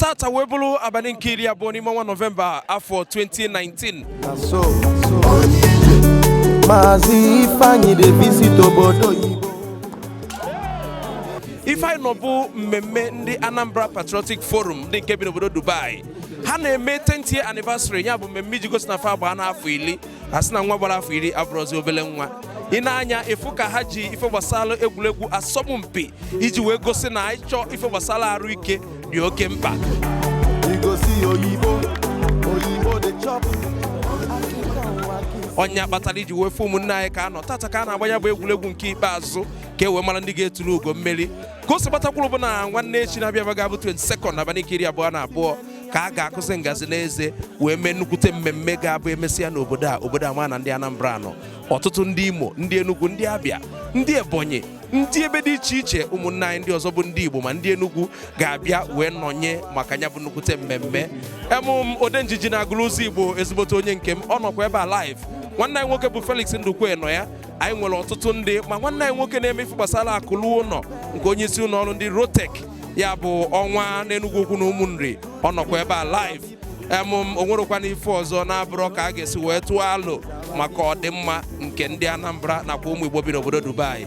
tata wee bụrụ abalị nke iri abụọ n'ime ọnwa nọvemba afọ 2019 Maazị Ifeanyi dey visit obodo oyibo. ife anyị nọ bụ mmemme ndị anambra patriotic forum ndị nke bi n'obodo dubai ha na-eme 10th year anniversary ya bụ mmemme iji gosi na fa agbaana afọ iri a sị na nwa gbara afọ iri abụrụzi obele nwa i nee anya ị fụ ka ha ji ife gbasara egwuregwu asọmpi iji wee gosi na ịchọ ife gbasara arụ ike dị oke mkpa ọ nya kpatara i ji wee fụ ụmụnne anyị ka a nọ tata ka a na-agba nya bụ egwuregwu nke ikpeazụ ka e wee mara ndị ga-eturu ugo mmeri ka o si gbata kwụrụ bụ na nwanne echi na-abịa ga-abụ 22nd abalị nke iri abụọ na abụọ ka a ga-akụzi ngazi n'eze wee mee nnukwute mmemme ga-abụ e mesịa n'obodo a obodo a ma na ndị Anambra nọ ọtụtụ ndị Imo ndị Enugu ndị Abịa ndị Ebonyi ndị ebe dị iche iche ụmụnne anyị ndị ọzọ bụ ndị Igbo ma ndị Enugu ga-abịa wee nọnye maka ya bụ nnukwute mmemme em ụm Odenjiji na Agụlụ Ụzọigbo ezigbote onye nke m ọ nọkwa ebe a live nwanne anyị nwoke bụ Felix Ndukwe nọ ya anyị nwere ọtụtụ ndị ma nwanne anyị nwoke na-eme ife gbasara akụlụ ụnọ nke onye isi ụnọ ọrụ ndị rotek ya bụ ọnwa n'Enugwu Ukwu na Ụmụnri ọ nọkwa ebe a live em o nwerekwana ife ọzọ na-abụrọ ka a ga-esi wee tụọ alo maka ọdịmma nke ndị anambra nakwa ụmụ igbo bi n'obodo dubai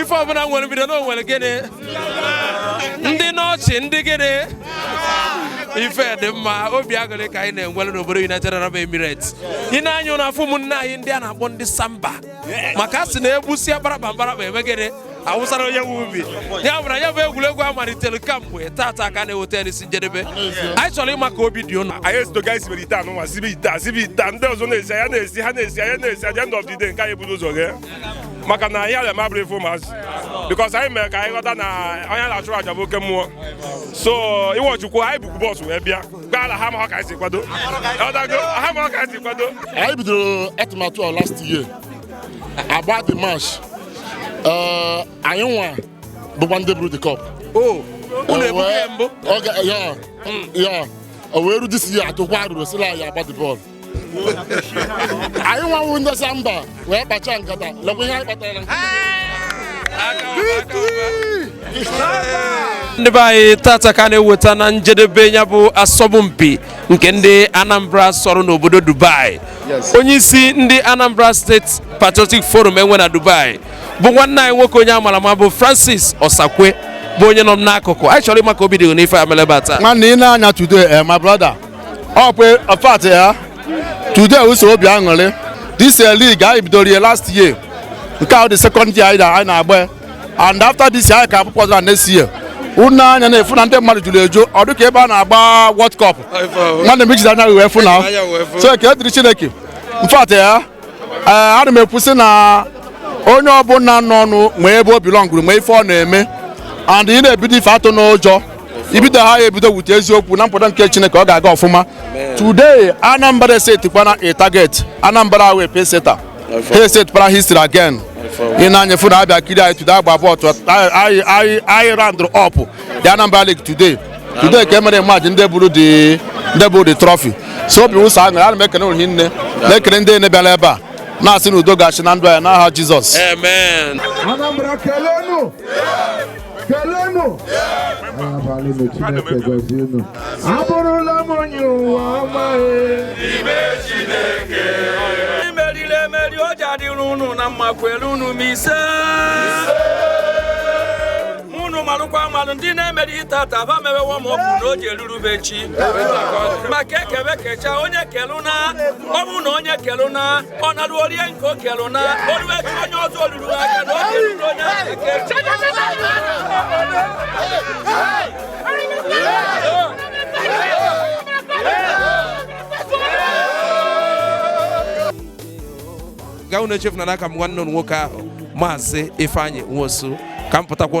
ife ọbụla nwere mbido na o nwere gịnị ndị n'ọchị ndị gịnị ife dị mma obi aṅụrị ka anyị na-enwere n'obodo United Arab Emirates i nee anya ị na-afụ ụmụnne anyị ndị a na-akpọ ndị samba maka a sị na e gbusịa akparaba mkparaba eme gịnị a wụsara onye nwe ubi ya bụ na ya bụ egwuregwu a malitere kamgbe tata ka a na-eweta ya n'isi njedebe anyị chọrọ ịma ka obi dị ụnụ anyị ezidoga isibere ite anyị nwa sibe ite a sibe ite a ndị ọzọ na-esi anyị na-esi ha na-esi anyị na-esi at the end of the day nke anyị buru ụzọ ghee maka na ihe ala mabụrụ ife ụmụazị because anyị mere ka anyị ghọta na onye a na-achụrụ aja bụ oke mmụọ so iwe chukwu anyị bukwu bọọsụ wee bịa gaa ala ha ma ka anyị si kwado ha ma ka anyị si kwado anyị bidoro atụmatụ a last year a gbaa the match eh, anyị nwa bụkwa ndị buru the cup oh, ya o wee ru this year atụkwa arụrụ sila anyị agba the ball anyị nwa bụ ndị samba wee kpacha nkata lekwa ihe anyị kpatara ndị be anyị tata ka a na-eweta na njedebe ya bụ asọmpi nke ndị Anambra sọrọ n'obodo Dubai onye isi ndị Anambra State Patriotic Forum enwe na Dubai bụ nwanne anyị nwoke onye a mara ama bụ Francis Osakwe bụ onye nọ m n'akụkụ anyị chọrọ ịma ka obi dị n'ife e mere ebe a taa nwanne i nee anya today eh, my brother ọ bụ ọfat ya today ụsọ obi aṅụrị this eh, league anyị bidoro ya last year nke a bụ the second anyị na-agba and after this year anyị ka ga-apụta next year unu anya na-afụ na ndị mmadụ jụrụ eju ọ dịka ebe a na-agba World Cup nwanne m ijide anya wee fụ na so ekele dịrị Chineke in fact eh, ana m ekwusị na onye ọbụla nọ ọnụ ma ebe o bilọngụrụ ma ife ọ na-eme and ị na-ebido ife atụna ụjọ ibido ha ya ebido with eziokwu na mpụta nke Chineke ọ ga-aga ọfụma today Anambra setikwana a target Anambra wee pacesetter ha esetụpara history again ị na-anya fụ na abịa kiri anyị today agba bọọlụ anyị roundụrụ up the Anambra League today today ka e mere match ndị buru the trophy so obi ụsọ aṅụrị ana m ekele unu hinne na-ekele ndị niine bịara ebe a na-asị na udo ga-achị na ndụ anyị n'aha Jizọs kelenu abalị m chineke gọzie unu abụrụla m onye ụwa ọma imeriri emeri o ji adịrị unu na mma kwelụnụ m ise unu malụkwa amalụ ndị na-emerihi tata ba mewewo ma ọ bụ na o ji erurube chi maka e kebe kecha onye kelụna ọ bụ na onye kelụna ọ nalụ o rie nke o kelụna o rue echi onye ọzọ o ruru ga unu echefuna na aka m nwanne unu nwoke ahụ maazị Ifeanyi Nwosu ka m pụtakwa